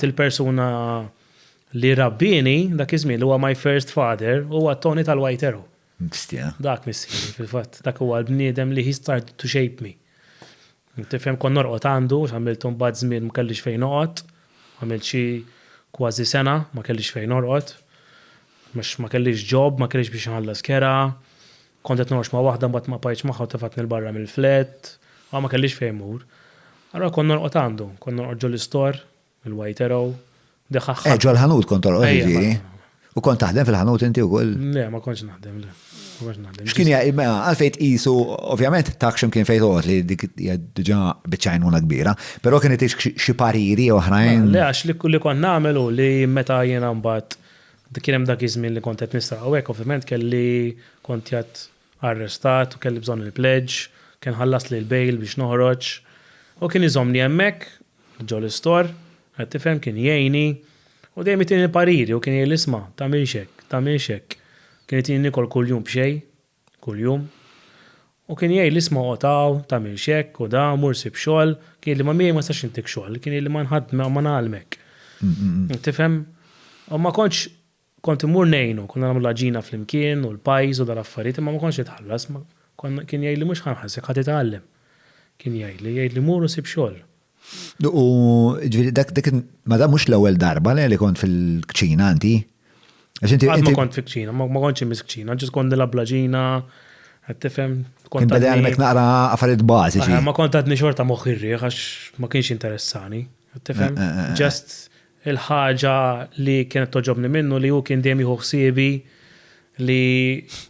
Il-persuna li rabbieni dak iż-żmien li huwa my first father huwa Tony tal-White Arrow. Bestia. Dak missieri fil-fatt. Dak huwa l-bniedem li he started to shape me. Tifhem kont norqod għandu għax għamilt imbagħad żmien ma kellix fejn noqgħod. Għamilt xi kważi sena ma kellix fejn norqod. Għax ma kellix job, ma kellix biex inħallas kera. Kont qed norqod ma' waħda mbagħad ma bqajtx magħha u tefgħetni 'l barra mill-flat, għaw ma kellix fejn mmur. Allura kont norqod għandu, kont norqod ġol-istor, il-White Arrow, dak aħħar. Eh, ġol-ħanut kont torqod jiġifieri? Ejja. U kont taħdem fil-ħanut inti wkoll? Le, ma kontx naħdem, le. Ma kontx naħdem. X'kien jgħi, mela, għalfejn tqisu, ovvjament tak x'imkien fejn toqgħod li dik hija diġà biċċa għajnuna kbira, però kien itik xi pariri oħrajn? Le, għax li kont nagħmel hu li meta jiena mbagħad Kien hemm dak iż-żmien li kont qed nisraq u hekk ovvjament kelli kont jgħad arrestat u kelli bżonn il-pledge, kien ħallasli l-bail biex noħroġ u kien iżommni hemmhekk ġol-istor, qed tifhem, kien jgħinni u dejjem jtini l-pariri u kien jgħidli isma' tagħmilx hekk, tagħmilx hekk. Kien jtini nikol kuljum b'xejn kuljum. U kien jgħidli isma' oqgħod hawn, tagħmilx hekk u da, mur sib xogħol. Kien jgħidli ma miegħi ma nistax intik xogħol, kien jgħidli ma ngħallmek. Tifhem? U ma kontx, kont immur ngħinu, konna nagħmlu l-għaġina flimkien u l-pajs u dal-affarijiet imma ma kontx nitħallas, kien jgħidli mhux ħa nħallsek ħa titgħallem. Kien jgħidli, jgħidli mur u sib xogħol. U ġviri, dak dik, ma da mux l-ewel darba li kont fil-kċina anti. Għad ma kont fil-kċina, ma kontx mis kċina, ġis kont nilab blaġina, għattifem. Kont bada għalmek naqra għafarit bazi. Ma kont għadni xorta moħirri, għax ma kienx interessani. Għattifem, eh, eh, eh, just Il-ħaġa li kienet togħġobni minnu li hu kien dejjem jieħu ħsiebi li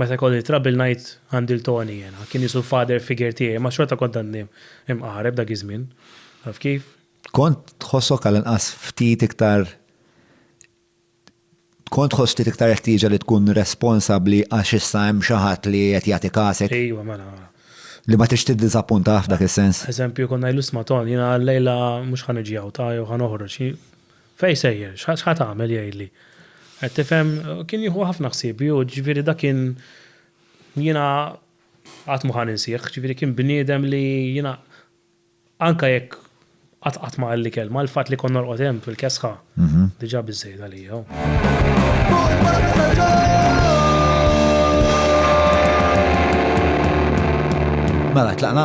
meta jkolli trouble ngħid għandi 'l Tony jiena. Kien qisu l-father figure tiegħi, ma xorta kont għadni mqareb dak iż-żmien. Taf kif? Kont tħossok għall-inqas ftit iktar Kont tħoss ftit iktar il-ħtieġa li tkun responsabbli għax issa hemm xi ħadd li qed jagħti kasek? Ejwa, mela, mela. Li ma tridx tiddiżappuntah f'dak is-sens? Eżempju, kont ngħidlu isma' Ton, jiena llejla mhux ħa niġi hawn ta' jew ħa noħroġ. Fejn sejjer? X'ħa tagħmel jgħidli. Qed tifhem? Kien jieħu ħafna ħsieb hu, jiġifieri dak kien jiena qatt mhu ħa ninsieh, jiġifieri kien bniedem li jiena Anke jekk qatt qatt ma qalli kelma, il-fatt li kont norqod hemm fil-kesħa diġà biżżejjed għalija. Mela, tlaqna?